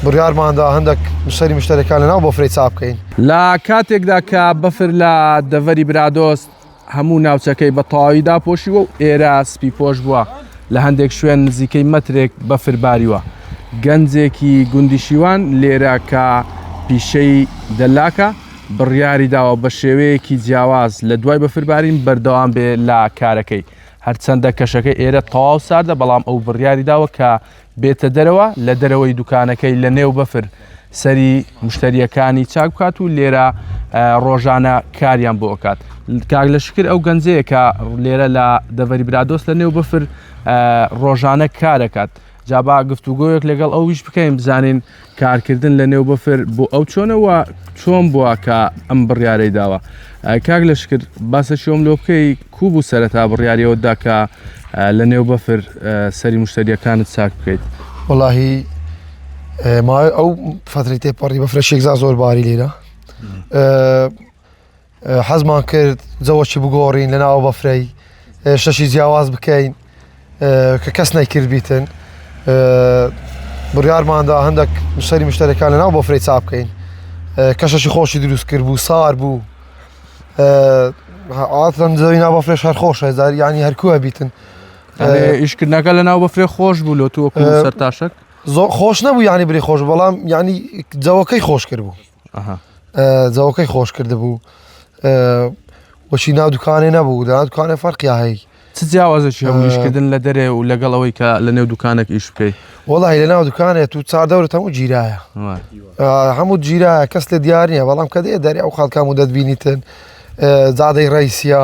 بڕیارماندا هەندێک نووسەری مشتەرەکان لەناو بەفرەی چاپ بکەین. لە کاتێکدا کە بەفر لە دەڤەری برادۆست هەموو ناوچەکەی بە تەواوی داپۆشیوە و ئێرە سپیپۆش بووە، لە هەندێک شوێن نزیکەی مەترێک بەفر باریوە. گەنجێکی گوندی شیوان لێرە کە پیشەی دەلاکە، بڕیاری داوە بە شێوەیەکی جیاواز لە دوای بەفربارین بەردەوام بێ لە کارەکەی. هەرچەندە کەشەکە ئێرە تەواو ساردە، بەڵام ئەو بڕیاری داوە کە بێتە دەرەوە لە دەرەوەی دوکانەکەی لە نێو بەفر سەری مشتریەکانی چاک بکات و لێرە ڕۆژانە کاریان بۆ ئەکات کاک لە شکر ئەو گەنجەیە کە لێرە لە دەڤەری برادۆست لە نێو بەفر ڕۆژانە کارەکات جابا گفتوگۆیەک لەگەڵ ئەویش بکەین بزانین کارکردن لە نێو بەفر بۆ ئەو چۆنە و چۆن بووە کە ئەم بڕیارەی داوە کاک لە شکرد باسە شۆم لۆ بکەی کو بوو سەرەتا بڕیاریەوە داکە لە نێو بەفر سەری مشتریەکانت ساک بکەیت وڵی ئەو فتری تێپەڕی بەفرە شێکزا زۆر باری لێرە حەزمان کرد جەوەکی بگۆڕین لە ناوە بەفرەی شەشی جیاواز بکەین کە کەس نەیکرد بیتن بڕارماندا هەندێک سەری مشتەرەکان لە ناو بەفرەی چا بکەین کەشەشی خۆشی دروست کرد بوو سار بوو ئاتەن زەوی ناو بەفرێش هەر خۆشە زار ینی هەرکووە بیتن ئیشکردنەکە لە ناو بەفرێ خۆش بوو لۆ تۆ سەر تاشک زۆر خۆش نەبوو ینی بری خۆش بەڵام ینی جەوەکەی خۆش کرد بوو جەوەکەی خۆش کردبوو وەشی ناو دوکانێ نەبوو دا دوکانێ فەرقیا هەی چ جیاوازێکی هەبوو ئیشکردن لە دەرێ و لەگەڵ ئەوەی کە لە نێو دوکانێک ئیش بکەیت وەڵی لە ناو دوکانێت و چار دەورت هەموو گیرایە هەموو گیرایە کەس لە دیار نییە بەڵام کە دێ دەری ئەو خەڵکام و دەتبینیتن زادەی ڕیسیا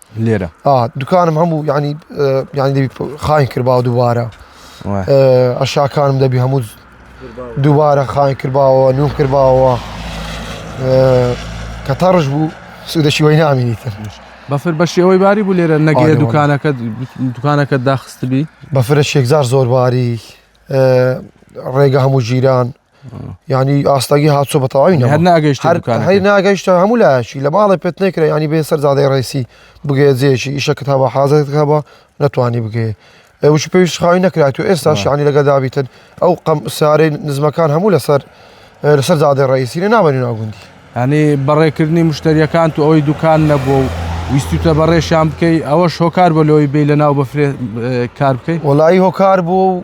لێرە دوکانم هەموو ینی ینی خاین کردباوە دووبارە ئەشاکانم دەبی هەموو دووبارە خاین کردباوە نوم کردباوە کە تەڕش بوو سوودەشی وی نامینی تر بەفر بە شێوەی باری بوو لێرە نەگەێ دوکانەکە دوکانەکە داخستبی بەفرە شێکزار زۆر باری ڕێگە هەموو ژیران ینی ئاستاگی هاچۆ بە تەواوی ناگەشت هەی ناگەشتە هەموو لاشی لە ماڵی پێت نەکرێ ینی بێ سەر زادەی ڕێسی بگەێت جێشی ئیشە کتابە حازر کتابە نەتوانی بگەێ وش پێویست خاوی نەکرات و ئێستا شانی لەگە دابیتن ئەو قەم سارێ نزمەکان هەموو لەسەر لەسەر زادەی ڕێسی لە نامەنی ناگوندی هەنی بەڕێکردنی مشتریەکان تو ئەوەی دوکان نەبوو و ویستوتە بەڕێشان بکەی ئەوە شۆکار بە لەوەی بی لە ناو بەفرێ کار بکەیت وڵی هۆکار بوو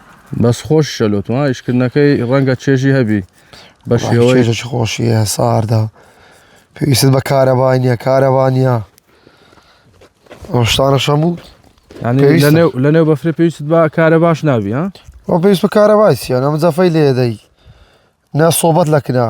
بەس خۆششە لۆتما ئیشکردنەکەی ڕەنگە چێژی هەبی بە شێوەی چێژێکی خۆشیە ساردە پێویست بە کارەبای نییە کارەبا نییە ئەو شتانە شەموو ینی پێویستە. لەنێو لەنێو بەفرە پێویست بە کارە باش ناوی ها ئەو پێویست بە کارەبای چیە نەم جەفەی لێدەی نە سۆبەت لە کنا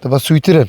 تە بە سویترن